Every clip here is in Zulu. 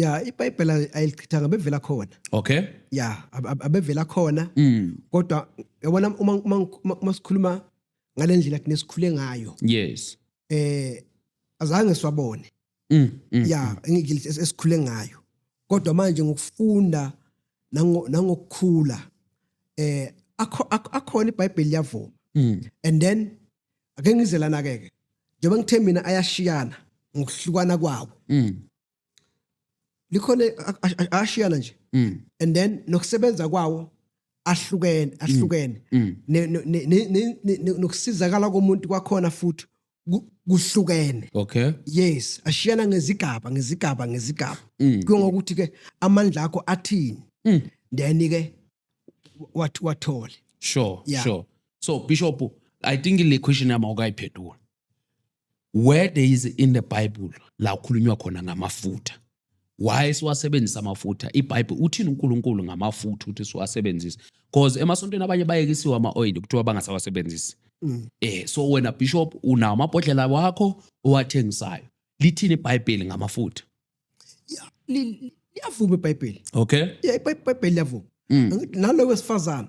ya ibhayibhela ayilichithanga bevela khona okay ya abevela khona mm. kodwa yabona uma uma uma sikhuluma ngalendlela thina sikhule ngayo yes eh azange siwabone mm, mm, ya mm. ngikile esikhule ngayo kodwa manje ngokufunda nangokukhula eh akhona ibhayibheli yavuma mm. and then ake ngizelana ke ke njengoba ngithe mina ayashiyana ngokuhlukana kwawo mm. likhona ashiyana nje mm. and then nokusebenza kwawo ahlukene ahlukene mm. Mm. nokusizakala komuntu kwakhona futhi kuhlukene okay yes ashiyana ngezigaba ngezigaba ngezigaba kungokuthi ke amandla akho athini then ke wathi wathole sure sure so bishop i think le question yami awukayiphendula where there is in the bible la ukhulunywa khona ngamafutha why siwasebenzisa amafutha ibhayibhile uthini unkulunkulu ngamafutha ukuthi siwasebenzise because emasontweni abanye bayekisiwe ama-oyili kuthiwa bangasawasebenzisi mm. eh so wena bishop unawo amabhodlela wakho owathengisayo lithini ibhayibheli ngamafutha liyavuma ibhayibheli okay yeah ibhayibheli liyavuma mm. nalo wesifazana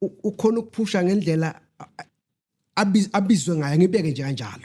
ukhona ukuphusha ngendlela abizwe ngayo ngibeke nje kanjalo